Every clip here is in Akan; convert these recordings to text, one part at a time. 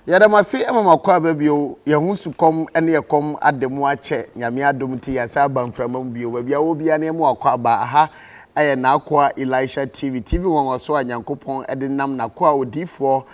Yɛda mo ase ma mo akɔ aba bio. Yɛn ho sukɔm ne ɛkɔm ada mu akyɛ. Nyame adom nti yɛasan aba mframa mu bio. Baabi a wɔ biara no yɛn mo akɔ aba. Aha yɛ N'akoa Elisha TV, TV nwanwaso a Nyankopɔn de nam N'akoa odiyifoɔ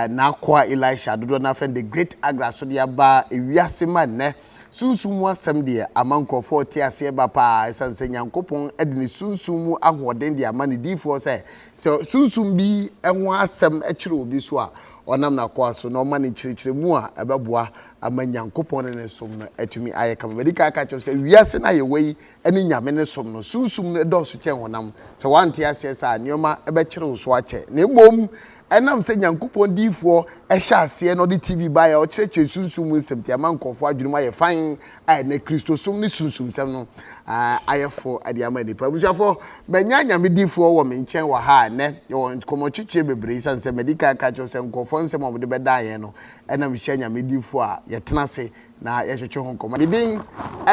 N'akoa Elisha, dodoɔ no ara frɛ no The Great Agra, so de aba wiase ma nnɛ. Sunsum mu asɛm deɛ ama nkorɔfoɔ te aseɛ ba paa, ɛsiane sɛ Nyankopɔn de ne sunsum mu ahoɔden de ama Ne diyifoɔ sɛ Sɛ Sunsum bi ho asɛm kyere obi so a, ɔnam n'akoa so na ɔma no nkyerɛkyerɛmu a ɛbɛboa ama Nyankopɔn ne Ne som no atumi ayɛ kama. Madi kan aka akyerɛ wo sɛ wiase no a yɛwɔ yi ne Nyame no som no, Sunsum no dɔɔso kyɛn honam. Sɛ woante aseɛ saa a, nneɛma bɛkyere wo so akyɛ. Na mmom, ɛnam sɛ Nyankopɔn diyifoɔ hyɛɛ aseɛ na ɔde TV baeɛ a ɔkyerɛkyerɛ Sunsum mu nsɛm nti, ama nkorɔfoɔ adwene mu ayɛ fann a ɛnnɛ Kristosom ne sunsumsɛm no ayɛ fo de ama nnipa. Abusuafo, manya Nyame difoɔ wɔ me nkyɛn wɔ ha a ɛnnɛ yɛwɔ nkɔmmɔtwetweɛ bebree esiane sɛ madi kan ka kyerɛw sɛ nkurɔfoɔ nsɛm a wɔde bɛdan yɛn no na mehyia Nyame difoɔ a yɛtena ase na yɛtwetwe ho nkɔmmɔ. Me din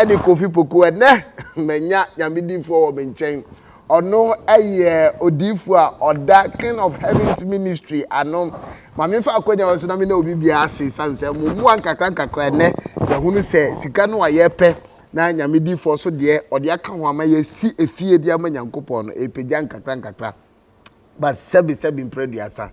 ne Kofi Poku. Ɛnnɛ manya Nyame difoɔ wɔ me nkyɛn ɔno yɛ odiifo a ɔda King of Heaven's Ministry ano. Ma memfa akwanya wɔ so na me ne obi bia ase sane sɛ mo mmoa nkakra nkakra nnɛ yɛhunu sɛ sika no a yɛpɛ na nyame difoɔ so deɛ ɔde aka ho ama yɛsi efie de ama nyankopɔn no ɛpagya nkakra nkakra But sɛbi sɛbi mpra aduasa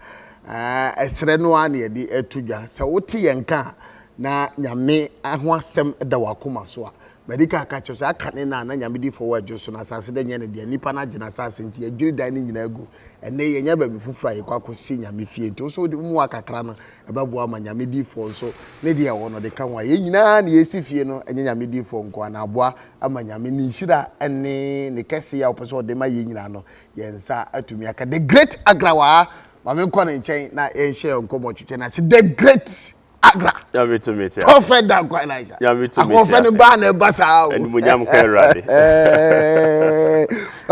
ahh ɛsrɛ no ara na yɛde ɛto dwa. Sɛ wote yɛn nka a na Nyame ho asɛm da w'akoma so a, madi kan aka akyerɛ wo sɛ aka ne na na Nyame di fɔ wɔ ɛdwo so na asase dɛ nyɛ ne dea. Nnipa no agye no asase nti yɛadwiri dan no nyinaa agu. Ɛnɛ yɛanya baabi foforo a yɛkɔ akɔ si Nyame fie nti wo so wode wo mua kakra no ɛbɛboa ama Nyame di fɔ nso ne deɛ ɛwɔ no ɔde ka ho a yɛn nyinaa na yɛresi fie no ɛnyɛ Nyame di fɔ nkoa na aboa ama Nyame ne nhyira ne ne kɛseyɛ a ɔpɛ sɛ ɔde ma yɛn nyinaa no yɛn nsa atumi aka the great agra waa ma me nkɔ ne nkyɛn na yɛnhyɛ yɛn nkɔmmɔ twetwe no ase the great agra prɔfɛt dankwa elija akɔmfɛ no baa na ɛba saa o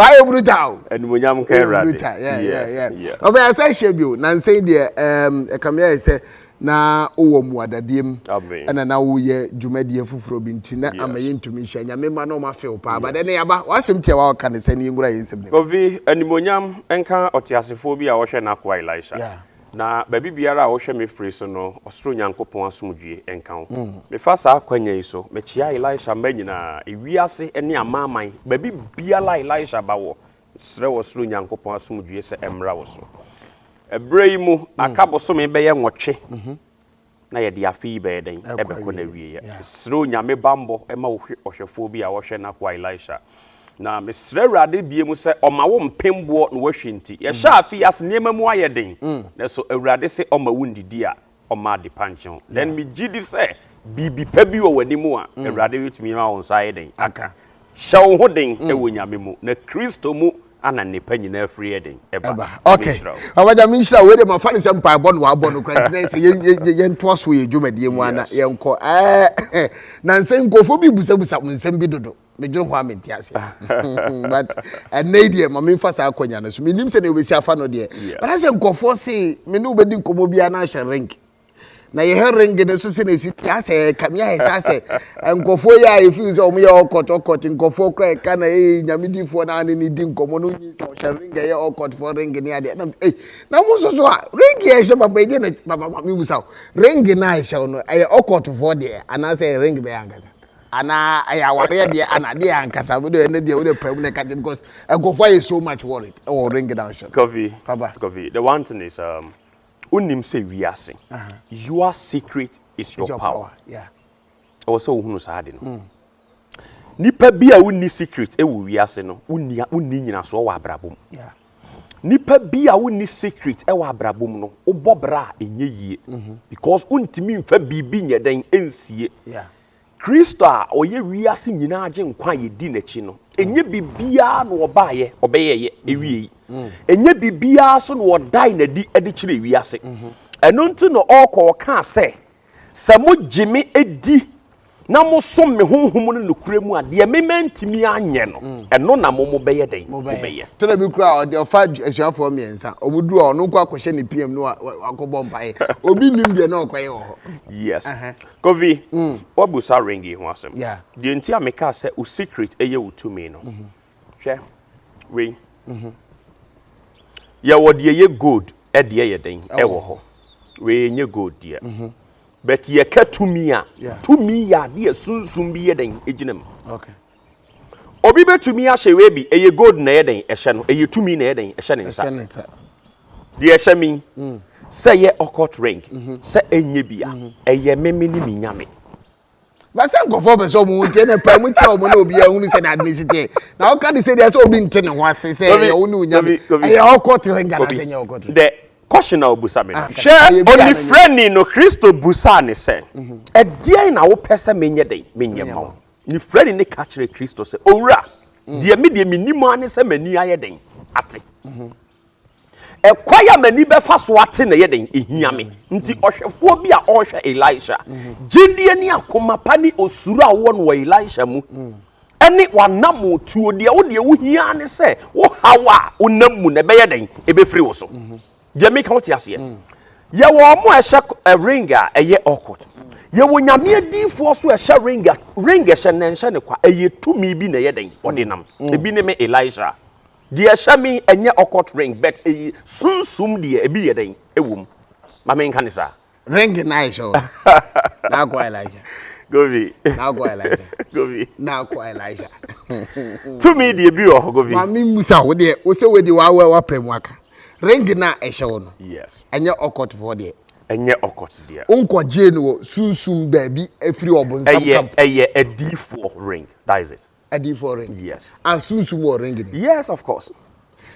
ayɛ bruta o bruta ɔbɛyɛ sɛ hyɛ bio nansɛn deɛ ɛkame ayɛ sɛ na wowɔ mmuadadie mu Amen. ɛna na woyɛ dwumadie foforɔ bi nti na ama Yes. yɛntumi nhyia Nyame mma na ɔma few paa but Yes. ɛnɛ yɛaba w'asɛm tiawa a ɔka ne sɛ ne yɛnkura yɛn nsɛm no mu. Kofi, animuonyam nka ɔteasefoɔ bi a ɔhwɛ n'akoa Elisha. Yeah. Na baabi biara a wohwɛ me firi so no, ɔsoro Nyankopɔn asomdwoeɛ nka wo. Mefa saa akwanya yi so, mekyea Elisha mma nyinaa, ewiase ne amanaman, baabi biara a Elisha ba wɔ, Srɛ ɔsoro Nyankopɔn asomdwoeɛ sɛ ɛmmra wo so. Ɛberɛ yi mu, aka bosome bɛyɛ nwɔtwe na yɛde afe yi bɛyɛ dɛn? Ɛbɛkɔ n'awieɛ. Mesrɛ Onyame bammɔ ma wo hwɛ ɔhwɛfoɔ bi a ɔhwɛ n'akoa Elisha. Na mesrɛ Awurade bie mu sɛ ɔma wo mpemboɔ na wahwɛ nti. Yɛhyɛ afe yi ase nneɛma mu ayɛ den, nanso Awurade se ɔma wo ndidi a ɔmma adepa nkyɛ wo. Then megye di sɛ biribi pa bi wɔ w'anim a, mm. Awurade bɛtumi ama wo nsa ayɛ den aka. Hyɛ wo ho den mm. wɔ Nyame mu, na Kristo mu ana nnepa nyinaa firi yɛ den ɛba. Okay. Abagya me nhyira wei de ma fa ne sɛ mpaebɔ no wabɔ no kora ntina sɛ yɛntoa so yɛ dwumadie mu ana yɛnkɔ. Nansɛ nkurɔfoɔ bi busabusa mo nsɛm bi dodo. medwene ho a mente aseɛ but ɛnɛ yi deɛ ma memfa saa akɔnya no so menim sɛ deɛ wobɛsi afa no deɛ but asɛ nkurɔfoɔ se me ne wobɛdi nkɔmmɔ biara na ahyɛ ring na yɛhɛ ring no so sɛ na ɛsi te asɛ ɛka me ayɛ sɛ asɛ nkurɔfoɔ yɛ a ɛfiri sɛ ɔmo yɛ ɔkɔt ɔkɔt nkurɔfoɔ kora ɛka na ɛyɛ nyamedifoɔ na ane ne di nkɔmmɔ no nyi sɛ ɔhyɛ ring ɛyɛ ɔkɔtfoɔ ring ne adeɛ nam ei na mo nso so a ring yɛ ɛhyɛ papa ɛdeɛ na papa ma mebusa ring no a ɛhyɛ no ɛyɛ ɔkɔtfoɔ deɛ anaasɛ ring bɛyɛ ankasa Ana ɛyɛ awareɛ deɛ ana deɛ ankasa me deɛ ɛnɛ deɛ wode pɛm na ɛka kyɛ because nkurɔfoɔ ayɛ so much worried ɛwɔ ring na ɔhyɛ no Kofi papa Kofi the one thing is um, wonim sɛ wiase your secret is your power ɛwɔ sɛ wohunu saa ade no mm. nipa bi a wonni secret ɛwɔ wiase no wonni wonni nyinasoɔ wɔ abrabɔ mu yeah. nipa bi a wonni secret ɛwɔ abrabɔ mu no wobɔ bra a ɛnyɛ yie mm -hmm. because wontumi mfa biribi nyɛ dɛn ɛnsie yeah. Kristo a ɔyɛ wiase nyinaa Agyenkwa a yɛdi n'akyi no, ɛnyɛ biribiara na ɔbaeɛ ɔbɛyɛeɛ ɛwiei. Ɛnyɛ biribiara nso na ɔdae no adi de kyerɛɛ wiase. Ɛno nti na ɔrekɔ ɔkaa sɛ, Sɛ mogye me di na mosom me Honhom no nokorɛ mu a, deɛ me mantumi anyɛ no, ɛno na mo mobɛyɛ dɛn? Mobɛyɛ. Tena bi koraa a, ɔde ɔfa asuafoɔ mmiɛnsa. Wɔduru hɔ a, ɔno nko ara kɔhyɛ ne piam na wakɔbɔ mpaeɛ. Obi nnim deɛ na ɔrekɔyɛ wɔ hɔ. Yes. Kofi, woabisa ring yi ho asɛm. Deɛ nti a mekaa sɛ wo secret yɛ wo tumi no, hwɛ wei. Yɛwɔ deɛ ɛyɛ gold deɛ yɛ dɛn wɔ hɔ. Wei ɛnyɛ gold deɛ. But yɛka tumi a, tumi yɛ adeɛ a sunsum bi yɛ dɛn gyina mu. Obi bɛtumi ahyɛ wei bi, ɛyɛ gold na ɛyɛ dɛn ɛhyɛ no, ɛyɛ tumi na ɛyɛ dɛn ɛhyɛ ne nsa. Deɛ ɛhyɛ me yi, mm. sɛ ɛyɛ occult ring, mhm. sɛ ɛnyɛ bi a, mhm. ɛyɛ me me ne me nyame. bɛsɛ nkɔfoɔ pɛ sɛ ɔmo ho nteɛ na paa mu kyerɛ ɔmo na obi ahunu sɛ n'ade ne si teɛ na ɔka de sɛ deɛ sɛ obi nte ne ho ase sɛ ɛyɛ wo ne onyame ɛyɛ ɔkɔ tere nga na sɛ nyɛ ɔkɔ tere. dɛ kɔsi na obusa mi no. hwɛ onifirani no kristo busa ne sɛ ɛdeɛn na wopɛ sɛ menyɛ dɛ menyɛ ma wo. Ne frɛni no ka kyerɛ Kristo sɛ, Owura, mm. deɛ me deɛ menim ara ne sɛ m'ani ayɛ den ate. Mhm. Ɛkwan a m'ani bɛfa so ate na ɛyɛ den ehia me. Mm. Nti ɔhwɛfoɔ bi a ɔrehwɛ Elisha, mhm. gyidie ne akoma pa ne osuro a wɔwɔ no wɔ Elisha mu mm. ɛne wanamo tuo deɛ wo deɛ wohia ne sɛ wohaw a wonam mu na ɛbɛyɛ den ɛbɛfiri wo so. Mhm. deɛ meka wote aseɛ mm. yɛwɔ ɔmo a ɛhyɛ eh, ring a ɛyɛ awkward mm. yɛwɔ nyame adiifoɔ so ɛhyɛ ring a ring ɛhyɛ na ɛnhyɛ ne kwa ɛyɛ tumi bi na ɛyɛ dɛn mm. ɔde nam ebi ne me elisa deɛ ɛhyɛ me ɛnyɛ awkward ring but ɛyɛ sunsum deɛ ebi yɛ dɛn ɛwɔ mu ma menka ne saa Ring na ayɛ sɛ na akɔ Elijah. Govi. Na akɔ Elijah. Govi. Na akɔ Elijah. Tumi deɛ bi wɔ hɔ Govi. Maame Musa wo deɛ wo sɛ wo deɛ wawɛ wapɛ mu aka. Ring na ɛhyɛ wo no. Yes. Ɛnyɛ ɔkɔtofoɔ deɛ. Ɛnyɛ ɔkɔt deɛ. Wonkɔgyee no wɔ sunsum baabi afiri ɔbonsam kampo. Ɛyɛ ɛyɛ adiifoɔ ring. That is it. Adi for ring. Yes. And sunsum wɔ ring ni. Yes of course.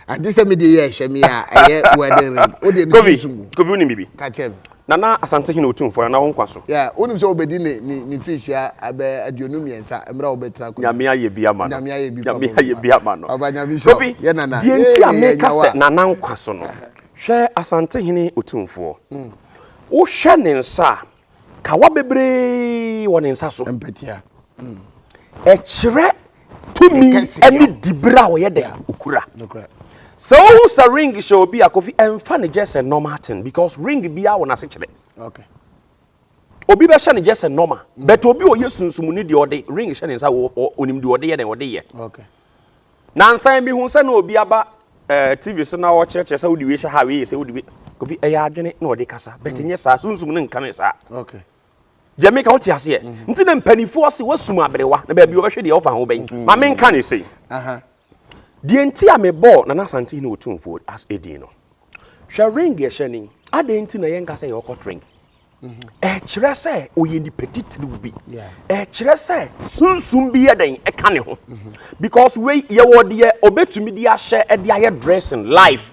And this me dey yɛ ɛhyɛ mi a ɛyɛ wedding ring. O de mi sunsum wo. Kobi ni bibi. Kakyɛ mi. Nana Asante hin otu nfɔ nana wo nkwa so. Yeah, wonim sɛ obedi ne ne ne fish ya abɛ aduonu mmiɛnsa mmerɛ obetena kɔ. Nyame ayɛ bi ama no. Nyame ayɛ bi papa. Nyame ayɛ bi ama no. Papa Nyame sɔ. Kobi. Yɛ nana. Deɛ nti a me ka sɛ nana nkwa so no. Hwɛ Asante hene otumfoɔ. Wohwɛ ne nsa a. Kawa bebree wɔ ne nsa so. Mpatia. Mm. Ɛkyerɛ tumi ne dibere a wɔyɛ dɛ okura. Sɛ wohu sɛ ring hyɛ obi a kofi ɛmfa ne just a normal thing because ring biara wɔ n'ase kyerɛ. Okay. Obi bɛhyɛ ne just a normal mm. but obi ɔyɛ sunsumuni deɛ ɔde ring hyɛ ne nsa onim deɛ ɔde yɛ na ɔde yɛ. Okay. Nansa yi mehuu sɛ na obi aba eh, TV so na ɔkyerɛkyerɛ sɛ wode wei hyɛ ha, wei yɛ sɛ wode wei. Obi ɛyɛ adwene na ɔde kasa, bɛte nyɛ saa, sunsum no nka me saa. Okay. Deɛ meka wote aseɛ, nti na mpanimfoɔ se wasum aberewa na baabi wɔbɛhwɛ deɛ ɔfa ho bɛn. Ma menka ne sei. Deɛ nti a mebɔɔ Nana Asante Hene Otumfoɔ as edin no, hwɛ ring yɛhyɛ ni, adɛn nti na yɛnka sɛ yɛrekɔ trink? ɛkyerɛ sɛ ɔyɛ nipa titiriw bi ɛkyerɛ sɛ sunsun bi yɛ dɛn ɛka ne ho because wei yɛwɔ deɛ ɔbɛtumi de ahyɛ ɛde ayɛ dressing life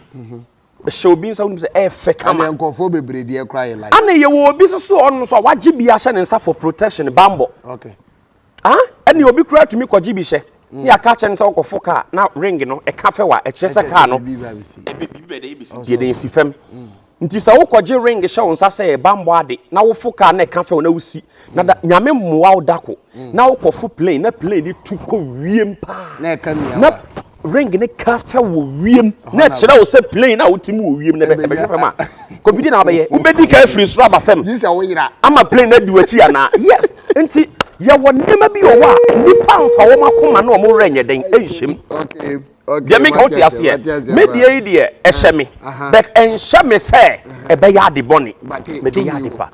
hyɛ obi nsa wonim sɛ ɛfɛ kama ɛna nkurɔfoɔ bebree deɛ kora yɛ life ɛna yɛwɔ obi soso ɔno nso a wagye bi ahyɛ ne nsa for protection bambɔ okay Ah, ɛne obi koraa tumi kɔgye bi hyɛ mm. ne aka akyerɛ no sɛ ɔkɔfo kaa na ring no ɛka fɛ wa ɛkyerɛ sɛ kaa no biribi bɛ dɛ ebesi deɛ dɛ esi fam mm. nti sɛ wokɔgye ring hyɛ wo nsa sɛ ɛbammɔ ade na wofo kaa na ɛka fɛ wo na wosi na da mm. nyame mmoa wo dako na wokɔfo plane na plane de tu kɔ wiem paa na ɛka mia na ring ne ka fa wɔ wiem na ɛkyerɛ wo sɛ plane a wote mu wɔ wiem na ɛbɛhwɛ fam a kɔmpiti na wabɛyɛ wobɛdi ka afiri soro aba fam ama plane no adi w'akyi anaa yes nti yɛwɔ nneɛma bi wɔ hɔ a nnipa mfa wɔn akoma na wɔn werɛ nyɛ den nhyɛm deɛ meka wote aseɛ me deɛ yi deɛ ɛhyɛ me but ɛnhyɛ me sɛ ɛbɛyɛ ade bɔne mede yɛ ade pa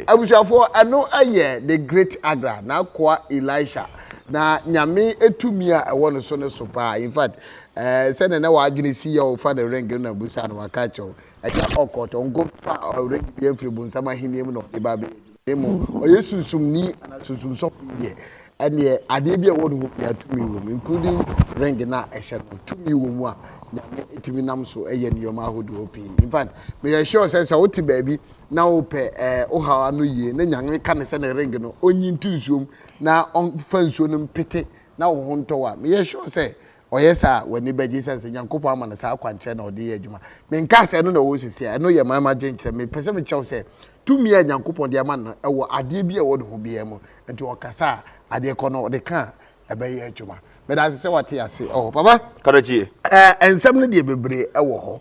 abusuafoɔ ɛno ɛyɛ the great agra na akoa elisha Na Nyame tumi a ɛwɔ no so no so paa. In fact, eh, sɛdeɛ na w'adwene si yɛ wofa no ring no na busa no waka akyerɛ wo. Ɛnyɛ ɔkɔt, ɔnkɔfa ring bi mfiri bonsam ahennie mu na ɔde ba bɛyɛ adwuma. Mmom, ɔyɛ sunsumni anaa sunsum sɔfo yi deɛ, ɛneɛ adeɛ bi a ɛwɔ ne ho biara tumi wɔ mu, including ring no a ɛhyɛ no. Tumi wɔ mu a Nyame tumi nam so yɛ nneɛma ahodoɔ pii. In fact, meyɛ sure sɛ sɛ wote baabi na wopɛ eh, wo haw ano yie na Nyame ka no sɛ ne ring no ɔnyi nto nsuom na ɔmfa nsuo no mpete na wo ho ntɔ wo a, meyɛ sure sɛ ɔyɛ saa a, w'ani bɛgye ɛsiane sɛ Nyankopɔn ama no saa akwankyerɛ na ɔde yɛ adwuma. Menkaa sɛ ɛno na ɛwɔ hɔ seesei a, ɛno yɛ man m'adwenkyerɛ. Mepɛ sɛ mekyerɛ wo sɛ tumi a Nyankopɔn de ama no no wɔ adeɛ bi a ɛwɔ ne ho biara mu, nti ɔkasa a, adeɛ korɔ no ɔde ka a, ɛbɛyɛ adwuma. meda ase sɛ wate ase wɔ hɔ papa karakyie ɛɛ nsɛm no deɛ bebree ɛwɔ hɔ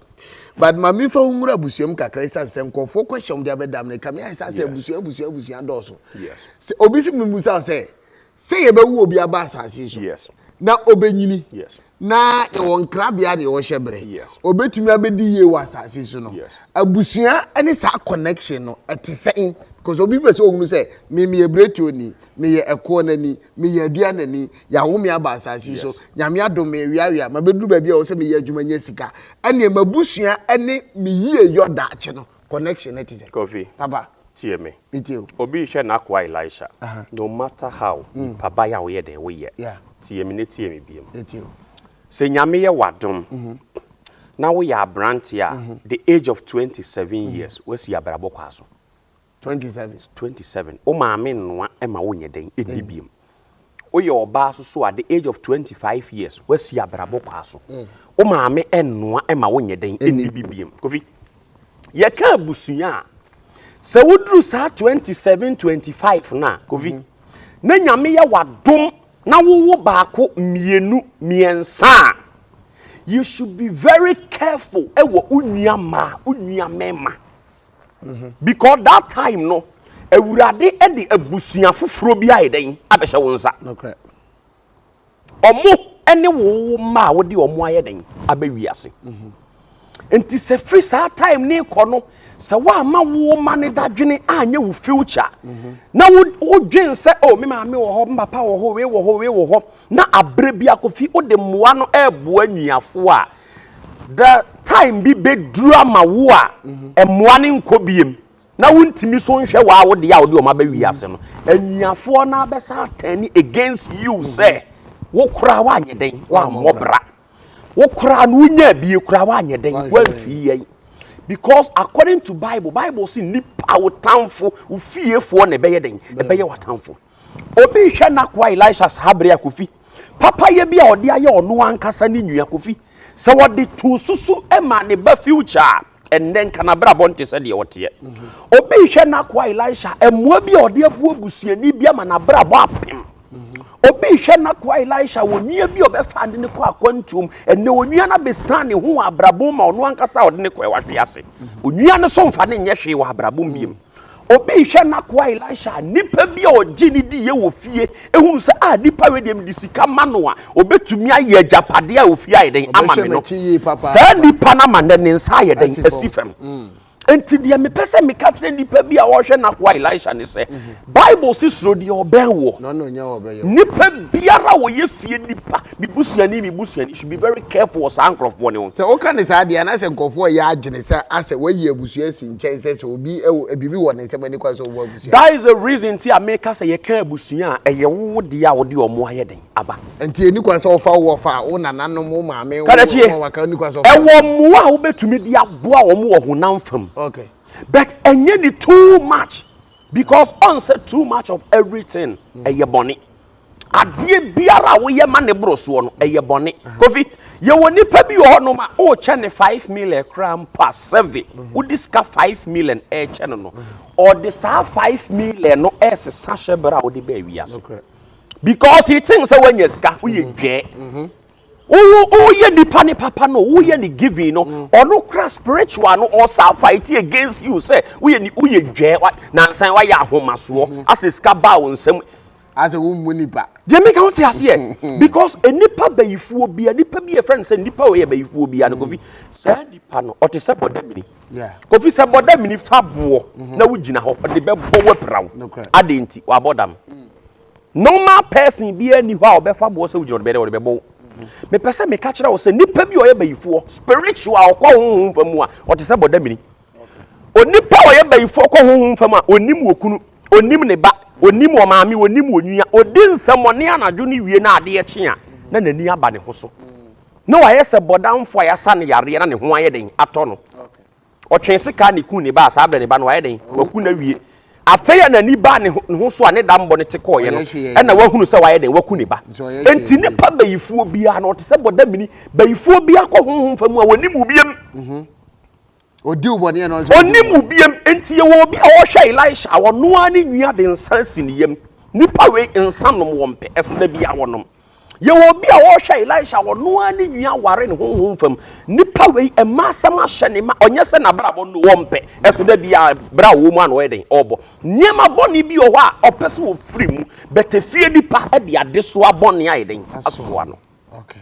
but ma mi fa ho nwura abusua mu kakra esan sɛ nkurɔfoɔ question de abɛdam no kame ayɛ sɛ asɛ abusua abusua abusua dɔɔso sɛ obi si mi busa sɛ sɛ yɛbɛwu obi aba asase so na ɔbɛnyini na yɛwɔ nkrabea deɛ ɔhyɛ berɛ ɔbɛtumi abɛdi yie wɔ asase so no abusua ne saa connection no ɛte sɛn because obi pɛ sɛ ɔhunu sɛ me meyɛ berɛtuo ni meyɛ ɛkoɔ no ani meyɛ adua no ani Yɛawo me aba asase yi so. Nyame adom me, meweawea, mabɛduru baabi a ɛwɔ sɛ meyɛ adwuma nya sika. Ɛnneɛ m'abusua ne me yieyɔ daakye no, connection no te sɛn? Kofi, Papa. tie me. Metie o. Obi rehwɛ n'akoa Elisha. Aha. No matter how, nipa ba yɛ a woyɛ dɛn? Woyɛ. Yeah. Tie me na tie me biom. Metie o. Sɛ Nyame yɛ w'adom na woyɛ aberanteɛ a, the age of twenty seven years, woasi abrabɔ kwan so. Twenty seven. Twenty seven, wo maame nnoa ma wonyɛ dɛn nni biom. Woyɛ ɔbaa so so at the age of twenty five years, woasi abrabɔ kwaa so. Wo maame nnoa ma wonyɛ dɛn nni bi biom. Kofi, yɛka abusua a, sɛ woduru saa twenty seven, twenty five no a, Kofi, na Nyame yɛ w'adom na wowo baako, mmienu, mmiɛnsa a, you should be very careful wɔ wo nua mmaa, wo nua mmarima. Mhm. Because that time no, Awurade de abusua foforɔ bi ayɛ dɛn abɛhyɛ wo nsa. Nokorɛ. Ɔmo ne wo mma a wode ɔmo ayɛ dɛn aba wiase. Mhm. Nti sɛ firi saa time ne kɔ no, sɛ woama wo mma ne dadwene anyɛ wo future, mhm. na wodwen sɛ o oh, me maame wɔ hɔ, me papa wɔ hɔ, wei wɔ hɔ, wei wɔ hɔ, na aberɛ bi akɔfi wode mmoa no ɛreboa nnuafoɔ a, The time bi bɛduru ama wo a mmoa no nkɔ biem na wontumi so nhwɛ wɔ a wo deɛ a wode wɔn aba wiase no. Anuafoɔ no abɛsa atɛne against you sɛ wo koraa woanyɛ dɛn woammɔ bra. Wo koraa no wonyaa bie koraa woanyɛ dɛn woamfii yɛn. Because according to Bible, Bible se nipa wo tamfo, wo fiefoɔ na ɛbɛyɛ dɛn ɛbɛyɛ w'atamfo. Obi rehwɛ n'akoa Elisha saa bere a Kofi, papayɛ bi a ɔde ayɛ ɔno ankasa ne nua Kofi, sɛ wɔde too so su ma ne ba future a, ɛnnɛ nka n'abrabɔ nte sɛ deɛ ɔteɛ. Obi rehwɛ n'akoa Elisha mmoa bi a ɔde aboa busuani bi ama n'abrabɔ apem. Obi rehwɛ n'akoa Elisha onua bi a ɔbɛfa de no kɔ akwantuom, ɛnnɛ onua no abɛsiane ne ho wɔ abrabɔ mu ma ɔno ankasa a ɔde no kɔɛ wahwe ase. Onua no so mfa no nyɛ hwee wɔ abrabɔ mu biom. Obi rehwɛ n'akoa Elisha a, nipa bi a ɔgye ne diiɛ wɔ fie hunu sɛ, ah, nipa wei deɛ mede sika ma no a, ɔbɛtumi ayɛ agyapadeɛ a ofie ayɛ dɛn ama me no. Saa nipa no ama nnɛ ne nsa ayɛ dɛn asi fam. Enti deɛ mepɛ sɛ meka kyerɛ nipa bi a ɔrehwɛ n'akoa Elisha ne sɛ, Bible se suro deɛ ɔbɛn woɔ. Nipa biara a ɔyɛ fie nipa Me busuani, me busuani should be very careful wɔ saa nkorɔfoɔ no ho. Sɛ woka no saa deɛ, anaasɛ nkorɔfoɔ reyɛ adwene sɛ asɛ wayi abusua asi nkyɛn sɛ sɛ obi wɔ, biribi wɔ ne nsam ani kwan sɛ ɔbɔ abusua. That is the reason nti a meka sɛ yɛka abusua a, ɛyɛ wo wo deɛ a wode wɔn ayɛ dɛn aba. Nti ɛnni kwan sɛ wofa wo wɔfa, wo nananom, wo maame, wo Kadakyie, wɔn a waka, ɛnni kwan sɛ wofa wɔn. ɛwɔ mmoa a wobɛtumi de aboa wɔn wɔ honam fam. Okay. But ɛnyɛ ne too much because ɔnsɛ too much of everything ɛyɛ bɔne. Adeɛ biara a woyɛ ma ne boro soɔ no, ɛyɛ bɔne. Kofi, yɛwɔ nipa bi wɔ hɔnom a, wokyɛ ne five million koraa mpo a, sɛve wode sika five million ɛrekyɛ no no, ɔde saa five million no ɛresesa hyɛ berɛ a wode baa wiase. Because he thinks sɛ woanya sika, woyɛ dwɛɛ. Woyɛ nipa ne papa no, woyɛ ne giving no, ɔno kora spiritual no, ɔsa fight against you sɛ woyɛ dwɛɛ, nansan woayɛ ahomasoɔ, asɛ sika baa wo nsam. asɛ wo mmu nipa. Deɛ meka wo te aseɛ because nipa bayifoɔ bia nipa bi yɛfrɛ no sɛ nipa wɔ yɛ bayifoɔ bia no mm. kofi saa nipa no ɔte sɛ bɔda mini kofi sɛ bɔda mini fa boɔ mhm. na wogyina hɔ ɔde bɛbɔ wapira wo adeɛ nti wabɔ dam mm. normal person biara ni hɔ a ɔbɛfa boɔ sɛ wogyina ɔde bɛdɛ ɔde bɛbɔ wo mhm. mepɛ sɛ meka kyerɛ wo sɛ nipa bi ɔyɛ bayifoɔ spiritual ɔkɔ honhom fa mu a ɔte sɛ bɔda mini Onipa a ɔyɛ bayifoɔ kɔ honhom fam a, ɔnnim okunu, ɔnnim ne ba, ɔnnim ɔmaame, ɔnnim onua, ɔdi nsɛmmɔne anadwo ne wie na adeɛ kye a, na n'ani aba ne ho so. Na wayɛ sɛ bɔdamfoɔ a yɛasa no yareɛ na ne ho ayɛ dɛn? Atɔ no. Ɔtwee sekaa na ɛkuu ne ba a, saa berɛ ne ba no wayɛ dɛn? Waku no awie. Afei a n'ani baa ne ho so a ne dammɔ no te kɔeɛ no, ɛnna wahunu sɛ wayɛ dɛn? Waku ne ba. Enti nnipa bayifoɔ biara no, ɔte sɛ bɔdamini. Bayifoɔ biara kɔ honhom fam a, ɔnnim obiam. Ɔdi wo bɔne yɛ na ɔno nso ɔdi Ɔnnim wo wo bɔne. biam. Enti yɛwɔ obi a ɔhwɛ Elisha a ɔno ara ne nwi ade nsa si ne yam. Nnipa wei nsa nom wɔmpɛ, ɛso da biara wɔnom. Yɛwɔ obi a ɔhwɛ Elisha a ɔno ara ne nwi aware ne honhom fam. Nnipa wei mma asɛm ahyɛ ne ma, ɔnyɛ sɛ n'abrabɔ no wɔmpɛ, ɛso da biara bere a ɔwɔ mu a na ɔyɛ dɛn? Ɔbɔ. Nneɛma bɔne bi wɔ hɔ a ɔpɛ sɛ ɔfiri mu, but efie nipa de adesoa bɔne ayɛ dɛn? Asoa no. Okay.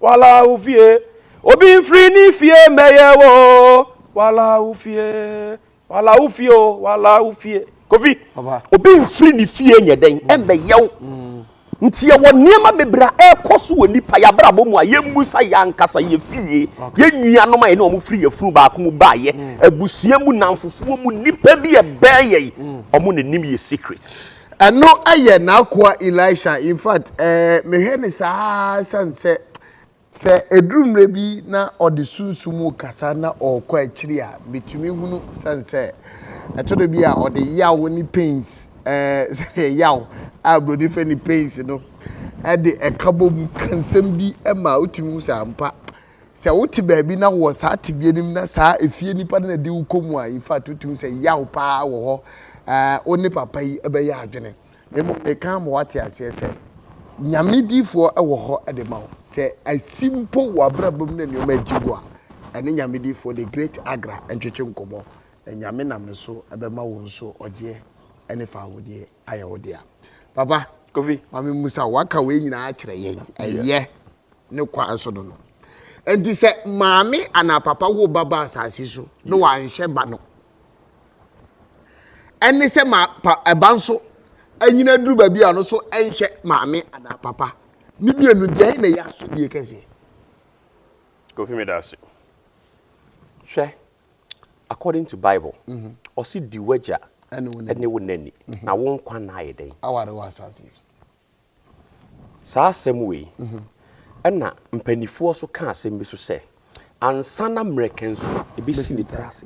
Wala wo fie. Obi nfiri ne fie mmɛyɛ wo. Wala wo fie. Wala wo fie o. Wala wo fie. Kofi. Obi nfiri ne fie nyɛ dɛn mmɛyɛ wo. Nti yɛwɔ nneɛma bebree a ɛrekɔ so wɔ nnipa y'abrabɔ mu a yɛmmusa y'ankasa, yɛ fie, yɛ nuanom a yɛne wɔn firi yafunu baako mu baayɛ, abusua mu, nnamfofoɔ mu, nnipa bi a ɛbɛn yɛn, wɔn na ɛnim yɛ secret. Ɛno yɛ n'akoa Elisha. In fact, eh, mehwɛ ne saa sane sɛ sɛ ɛduru mmerɛ bi na ɔde sunsum mu kasa na ɔrekɔ akyiri a, metumi hunu sane sɛ ɛtɔ da bi a ɔde yaw ne pains, eh, sɛdeɛ yaw a buroni fɛ ne pains no, ɛde ɛka bɔ mu ka nsɛm bi ma wotumi hu sɛ ampa Sɛ wote baabi na wowɔ saa tebea no mu na saa efie nipa no na di wo kɔ mu a, in fact wotumi sɛ yaw paa wɔ hɔ, ɛɛ wo ne papa yi bɛyɛ adwene. Mmom meka ama woate aseɛ sɛ Nyame diifoɔ wɔ hɔ de ma wo. Sɛ asi mpo w'abrabɔ mu na nneɛma agye wo a, ɛne Nyame diifoɔ the great Agra ntwetwe nkɔmmɔ na Nyame nam ne so bɛma wo nso ɔgyeɛ ne fawodeɛ. ayɛ wo dea. Papa, Kofi. ma me mmusa wo. Waka wei nyinaa akyerɛ yɛn. Ɛyɛ ne kwan so no no. Enti sɛ maame anaa papa wo ba ba asase so na wanhwɛ ba no, ɛne sɛ ma pa ɛba nso anyina duru baabi a ɔno nso ɛnhwɛ maame anaa papa. Ne mmienu deɛ na ɛyɛ asodie kɛseɛ. Kofi meda ase. Hwɛ. according to bible mhm. ɔse di w'agya ne wo nani mhm. na wo nkwa na ayɛ dɛn aware wɔ asase yi so saa asɛm wei mhm. ɛna mpanimfoɔ so ka asɛm bi so sɛ ansa na mmerɛkɛn so ɛbɛsi ne tiri ase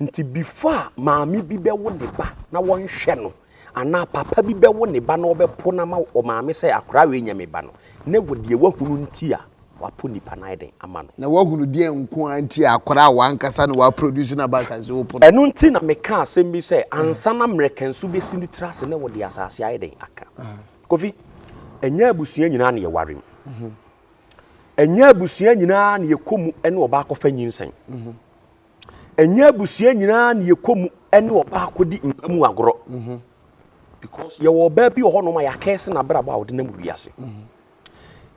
nti before a maame bi bɛwo ne ba na wɔnhwɛ no Anaa papa bi bɛwo ne ba na ɔbɛpo no ama ɔmaame sɛ akora wei nyɛ me ba no, na ɛwɔ deɛ wahunu nti a wapo nipa no ayɛ den ama no. Na wahunu deɛn nko ara nti a akora a wankasa na waproduce no aba asase so wopo no? Ɛno nti na mekaa asɛm bi sɛ ansa na mmerɛkansu bɛsi ne tiri ase na ɛwɔ deɛ asase ayɛ den aka. Kofi, ɛnyɛ abusua nyinaa na yɛware mu. Ɛnyɛ abusua nyinaa na yɛkɔ mu ne ɔbaakɔfa nyinsɛn. Ɛnyɛ abusua nyinaa na yɛkɔ mu ne ɔbaa kɔdi mpa mu agorɔ. Mhm. Because yɛwɔ ɔbaa bi wɔ hɔnom a yɛakɛse n'abrabɔ a ɔde nam wiase. Mhm.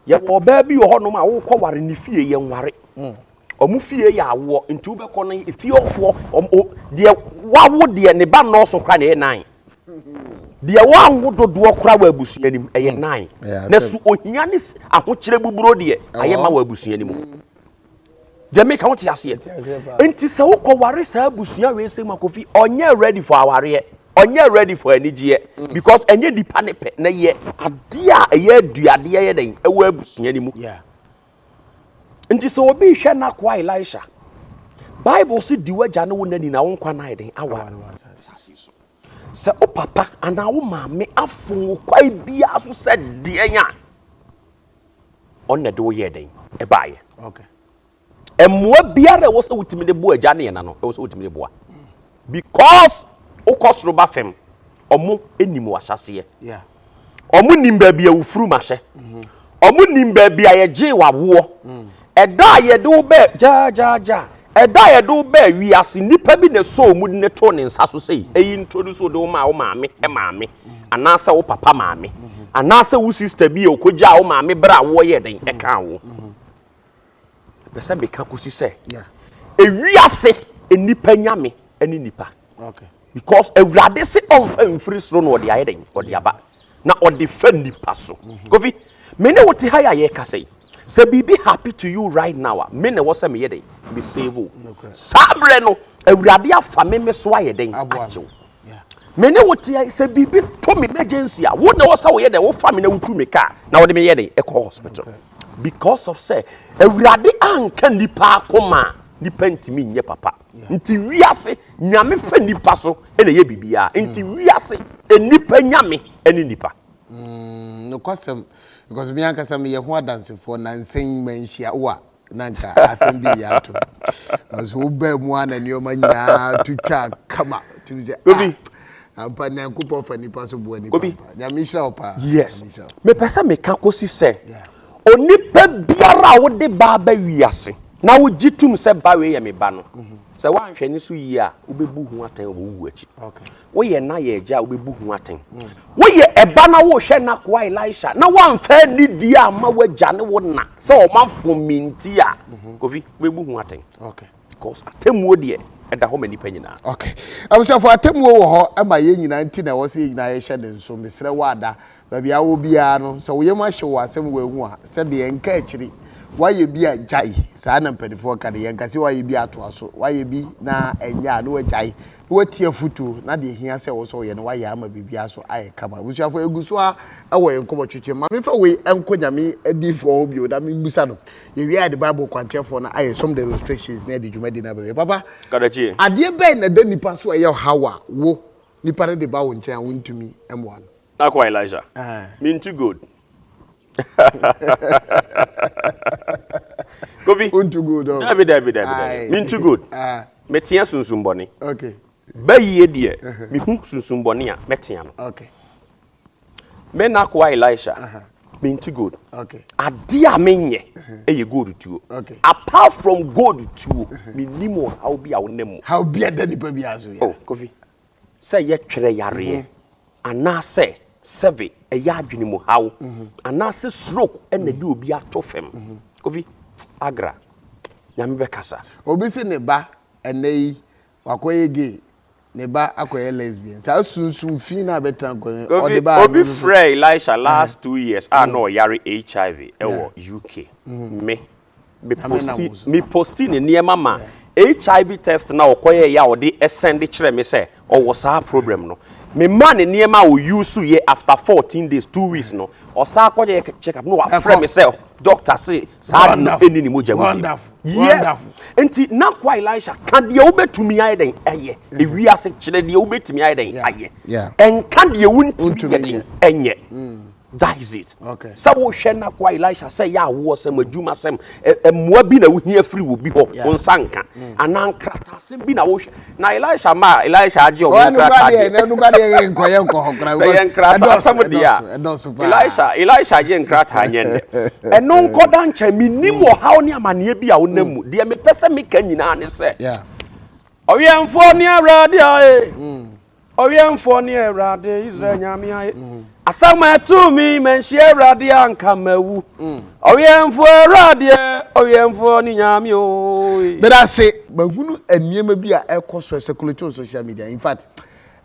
Yɛwɔ ɔbaa bi wɔ hɔnom a wokɔ ware ne fie yɛ nware. Mm. Ɔmo fie yɛ awoɔ nti wobɛkɔ no efie ɔfoɔ ɔmo deɛ wawo deɛ ne ba nnɔɔso kora na ɛyɛ nan. Deɛ wanwo dodoɔ kora wɔ abusua no mu ɛyɛ mm. nan. Na so ohia ne ahokyerɛ buburo deɛ ayɛ ma wɔ abusua no mu. Mm. deɛ meka wote aseɛ nti sɛ wokɔ ware saa abusua wei sɛ makofi ɔnyɛ ready for awareɛ ɔnyɛ ready for anigyeɛ mm. because ɛnyɛ nipa ne pɛ na yɛ adeɛ a ɛyɛ aduadeɛ yɛ dɛn ɛwɔ abusua no mu nti sɛ obi hwɛ n'akoa elisha bible si di wagya ne wo nani na wo nkwa nan den awa Sɛ wo papa anaa wo maame afom wo kwan biara so sɛ deɛn a, ɔno na ɛde wo yɛɛ dɛn? Ɛbaeɛ. Okay. Mmoa biara ɛwɔ sɛ wotumi de boa agya ne ɛna no, ɛwɔ sɛ wotumi de boa. Because wokɔ soro ba fam, ɔmo nim w'ahyɛseɛ. Yeah. Ɔmo nim baabi a wo furum ahyɛ. Ɔmo nim baabi a yɛgyee w'awoɔ. Ɛda a yɛde wo baa, gyaagyaagya, ɛda a yɛde wo baa wiase, nnipa bi na ɛsɔɔ mu de no too ne nsa so sɛ, Ei, introduce wo de wo maa wo maame maame, anaasɛ wo papa maame, anaasɛ wo sista bi a ɔkɔgyaa wo maame berɛ a awoɔ yɛɛ dɛn, ɛkaa wo. Mepɛ sɛ meka kɔsi sɛ ewiase nnipa nya me ne nnipa. Because Awurade se ɔmfa mfiri soro na ɔde ayɛ dɛn ɔde aba na ɔde fa nnipa so. Mm-hmm. Kofi, me ne wote ha yɛ a yɛka sɛ sɛ biribi happy to you right now a me na ɛwɔ sɛ meyɛ dɛn me save o. Saa berɛ no Awurade afa me me so ayɛ dɛn agyew. Me ne wo tea sɛ biribi to me emergency a wo na wɔ sɛ woyɛ dɛ wofa me na wotu me kaa na wode meyɛ dɛ ɛkɔ hospital because of sɛ awurade anka nnipa akoma a nnipa ntumi nyɛ papa nti wiase nyame fɛ nnipa so ɛna ɛyɛ biribiara nti hmm. wiase nnipa nyame ɛne nnipa hmm, nokwasɛm because me ankasa meyɛ ho adansefoɔ na nsɛn manhyia wo a na nka asɛm bi reyɛ ato no because wobaa mu a na nneɛma nyinaa to twaa kama tumi sɛ Obi. ah ampa nyankopɔn fa nipa so boa nipa Obi. mpa nyame nhyira wo paa yes Nyame nhyira wo. mepɛ sɛ meka kɔsi sɛ Yeah. onipa biara a wode ba aba wiase na wogye tom sɛ ba wei yɛ me ba no sɛ woanhwɛ ne so yie a wobɛbu ho atɛn wɔ wo wu akyi okay Woyɛ n'ayɛ agya a wobɛbu ho atɛn. Woyɛ ɛba na worehwɛ n'akoa Elisha na woamfa anni die amma w'agya ne wo na sɛ ɔmanfo me nti a, mhm. Kofi, wobɛbu ho atɛn. Okay. Because atemmuo deɛ ɛda hɔ ma nnipa nyinaa. Okay. Abusuafo atemmuo wɔ hɔ ɛma yɛn nyinaa nti na ɛwɔ sɛ yɛn nyinaa yɛhyɛ ne nso. Mesrɛ wo ada baabi a wɔ biara no sɛ woyam ahye wɔ asɛm wɔ ehu a sɛ deɛ nka akyiri wayɛ bi a gyae saa na mpanimfoɔ ka de yɛn kasi wayɛ bi atoa so wayɛ bi na ɛnyɛ a ne wagyae na woatie afotu na deɛ ɛhia sɛ wo nso woyɛ no woayɛ ama biribiara so ayɛ kama. Abusuafoɔ yɛgu so ara wɔ yɛn nkɔmmɔtwetwe. Ma memfa wei nkɔ Nyame adiyifoɔ hɔ bio na memmisa no. Yɛwie a yɛde Bible kwankyerɛfoɔ no ayɛ some the illustrations na yɛde dwumadi no aba awie. Papa, Kadakie. adeɛ bɛn na ɛda nipa so a ɛyɛ ɔhaw a wo, nipa no de ba wo nkyɛn a wontumi mmoa no? N'akoa Elijah. Ɛɛ. Minty Gold. Kofi, Unto good oh. Dabi dabi dabi dabi. Aye. Mintu good. Ah, Metea sunsumbɔne. okay, Bayie deɛ Uh-huh. mehu sunsumbɔne a mɛtea no. okay, Me n'akoa Elisha, Uh-huh. mintu good. okay. Adeɛ a menyɛ ɛyɛ gold tuo. Uh-huh. Okay. Uh-huh. Apart from gold tuo, menim ɔhaw bi a wonam mu. How bia da nipa bi aso ya. Oh, Kofi, Sɛ yɛtwerɛ yareɛ anaasɛ sɛbe ɛyɛ adwene mu haw anaasɛ stroke ɛna ɛde obi ato fam. Kofi Agra, Nyame bɛkasa. Obi se ne ba ɛnɛ yi wakɔyɛ gay, ne ba akɔyɛ lesbian. Saa sunsum fi no a ɛbɛtra nkwa mu no, ɔde baeɛ no nso so. Obi frɛɛ Elisha last two years a na ɔyare HIV wɔ UK. Me, Me posti ne nneɛma ma HIV test no a ɔkɔyɛɛ yɛ a ɔde sɛnde kyerɛɛ me sɛ ɔwɔ saa problem no. Me maa no nneɛma a ɔyuusu yɛ after fourteen days, two weeks no ɔsan kɔyɛɛ check up na wafrɛ me sɛ doctor se saa ade no nni ne mogya mu bio. Yes! Nti na Kwa Elisha ka deɛ wobɛtumi ayɛ dɛn ayɛ. Ewiase kyerɛ deɛ wobɛtumi ayɛ dɛn ayɛ. Nka deɛ wontumi nyɛ dɛn nyɛ. That's it. Okay. Sɛ wohwɛ na kwa Elisha sɛ yɛ awoɔsɛm, adwumasɛm, mmoa bi na wohia firi wɔ bi hɔ, wo nsa nka. Mm. Anaa nkrataasɛm bi na wohwɛ. Na Elisha ma Elisha agye ɔmo nkrataa deɛ. Ɔno kura deɛ yɛ nkɔ yɛ nkɔ hɔ kura. Sɛ yɛ nkrataasɛm deɛ a, Elisha Elisha agye nkrataa nyɛ ndɛ. Ɛno nkɔda nkyɛn, mi nim mm. ɔhaw ne amaneɛ bi a wonam mm. mu. Deɛ mepɛ sɛ meka nyinaa ne sɛ, ɔwɛnfoɔ ne awurade a ee, eh. Ɔwɛmfoɔ ne Awurade, Israel Nyame ayɛ. Asɛm a ɛtoo me, manhyia Awurade a anka mawu. Ɔwɛmfoɔ Awuradeɛ, Ɔwɛmfoɔ ne Nyame oe. Meda ase, mahunu nneɛma bi a ɛkɔ so circulate on social media. In fact,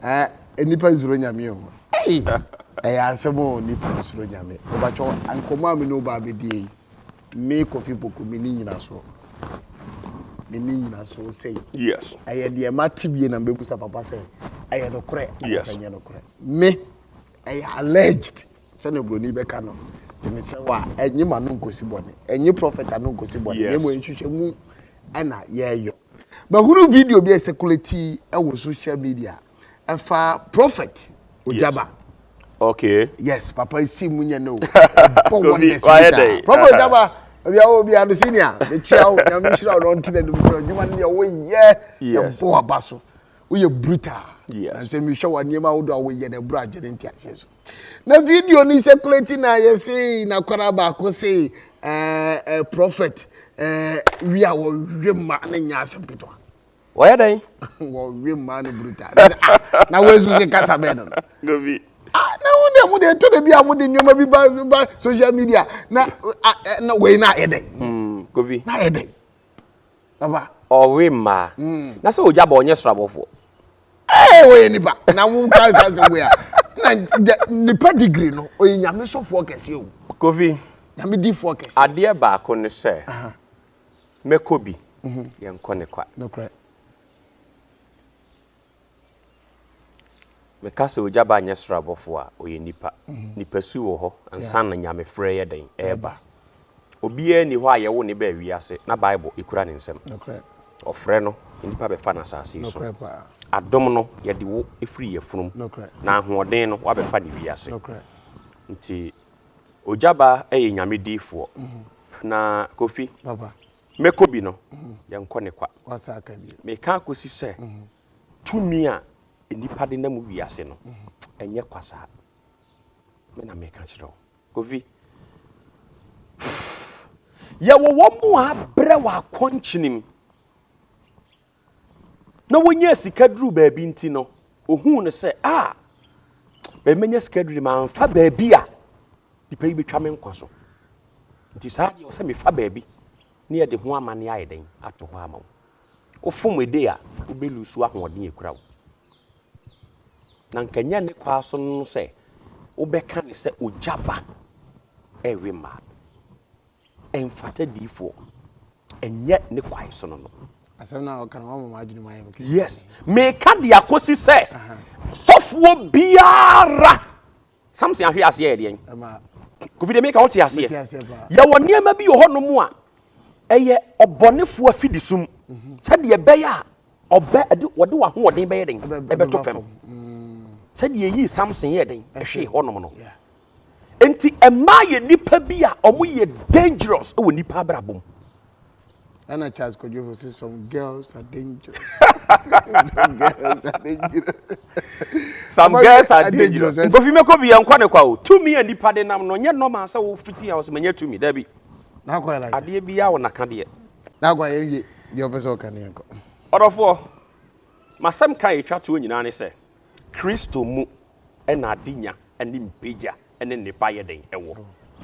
eh, nnipa nsuro Nyame o. Ei, ɛyɛ asɛm o, nnipa nsuro Nyame. Mebatwɔ, nkɔmmɔ a me ne wo baa bɛdie yi, Me Kofi Poku me ni nyina so me ni nyina so sei yes ɛyɛ deɛ ma te bie na mbɛbusa papa sɛ ɛyɛ nokorɛ anasɛ nyɛ nokorɛ me ɛyɛ alleged sɛ na buroni bɛka no te me sɛ wa ɛnye ma no nkosi bɔne ɛnye prophet ano nkosi bɔne na ɛmɔ ɛnhwehwɛ mu ɛna yɛyɔ mahunu video bi a ɛsɛkulati ɛwɔ social media Ɛfa prophet Ojaba. Okay. Yes, papa isi mu nyɛ no. Bɔ wɔn bɛ spirita. Prophet Ojaba, ebi awo obi ano senior, ne kyia o, nyame nhyira o, na ɔnti na nimu tɔ, adwuma no deɛ woyɛ, ɛbɔ waba so, woyɛ brutal. Yes. Na sɛ mehwɛ wɔ nneɛma ahodoɔ a woyɛ na ɛboro adwene nti aseɛ so. Na video no circulate na yɛ sei, na kwara baako sei, ɛɛ, eh, eh, prophet, ɛɛ, eh, wi a wɔwe ma ne nyɛ asɛm ketewa. Wɔyɛ dɛn? Wɔwe mmaa no brutal. Na sɛ ah na wɔasu sɛ kasa bɛn no no. Dabi. Ah na wɔn deɛ wɔn deɛ ɛtɔ da bi a wɔn de nneɛma bi ba ba social media na ah eh, na wei na ayɛ dɛn? Mm, Kofi. Na ayɛ dɛn? Baba. Ɔwe mmaa. Mm. Na sɛ ogya bɔ ɔnyɛ soro abɔfoɔ. Ee wɔyɛ nipa na wɔn ka nsa sɛ wɔyɛ na nipa degree no ɔyɛ nyame sɔfoɔ kɛseɛ o. Kofi. Nyame difoɔ kɛseɛ. Adeɛ baako ne sɛ. Uh -huh. Mɛkɔ bi, yɛnkɔ ne kwa. Nokorɛ. Meka sɛ ogya ba nyɛ soro abɔfoɔ a, ɔyɛ nipa. Nipa su wɔ hɔ ansa na Nyamefrɛ yɛ dɛn? Ɛreba. Obiara nni hɔ a yɛwo no baa wiase na Bible kura ne nsam. Nokorɛ. Ɔfrɛ no, nnipa bɛfa no asase yi so. Nokorɛ paa. Adom no, yɛde wo firi yafunum. Nokorɛ. Na ahoɔden no, woabɛfa no wiase. Nokorɛ. Nti Ogyaba yɛ nyame difoɔ na Kofi mɛkɔ bi no yɛnkɔ ne kwa meka kɔsi sɛ tumi a nnipa de nam wiase no ɛnyɛ kwa saa me na meka kyerɛ wo Kofi yɛwɔ wɔn mu a brɛ wɔ akɔnkyenem na wonyaa sika duruu baabi nti no, ohuu no sɛ, a, baabi manya sika duru mamfa baabi a nipa yi betwa me nkwa so. Nti saa deɛ ɔsɛ mefa baabi ne yɛde ho amanne ayɛ dɛn ato hɔ ama wo. Wofom ede a, wobɛlu so ahoɔden a ekura wo. Na nka nyɛ ne kwaa so no sɛ wobɛka ne sɛ ogya ba ɛwe mmaa. Ɛnfata diifoɔ, ɛnyɛ ne kwae sono no. Asɛm no a ɔka no wama m'adwene mu ayɛ me kɛse. Yes, meka de akɔsi sɛ sɔfoɔ biara Samson ahwe aseɛ yɛ deɛn? Kofi de meka wote aseɛ. Yɛwɔ nneɛma bi wɔ hɔnom a ɛyɛ ɔbɔnefoɔ afidisum mhm. sɛdeɛ ɛbɛyɛ a ɔbɛ ɛde wɔde w'ahoɔden bɛyɛ den ɛbɛto fam mm. sɛdeɛ yii Samson yɛ den ɛhwee hɔnom no. Yeah. Nti ɛmaa yɛ nipa bi a ɔmo yɛ dangerous wɔ nipa abrabɔ mu. Ɛna Charles Kwadwofo si some girls are dangerous. some girls are dangerous. some girls are dangerous. Nkofi mɛkɔ bi yɛn nkɔ ne kwa o. Tumi a nipa de nam no nyɛ normal sɛ wo fiti a ɔsɛ manya tumi dabi. N'akɔ yɛ like. Adeɛ bi yɛ awo n'aka deɛ. N'akɔ yɛ wie deɛ ɔpɛ sɛ ɔka ne yɛn kɔ. Ɔdɔfoɔ, masɛm ka etwa toɔ nyinaa ne sɛ Kristo mu na adenya ne mpagya ne nnepa yɛ dɛn wɔ?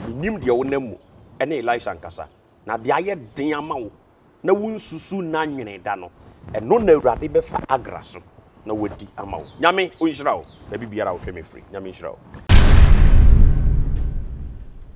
Minnim deɛ wonam mu ne Elisha nkasa, na deɛ ayɛ den ama wo na wonsusu nna nwene da no, ɛno na Awurade bɛfa agra so na wadi ama wo. Nyame onhyira wo baabi biara a wohwɛ me firi. Nyame nhyira wo.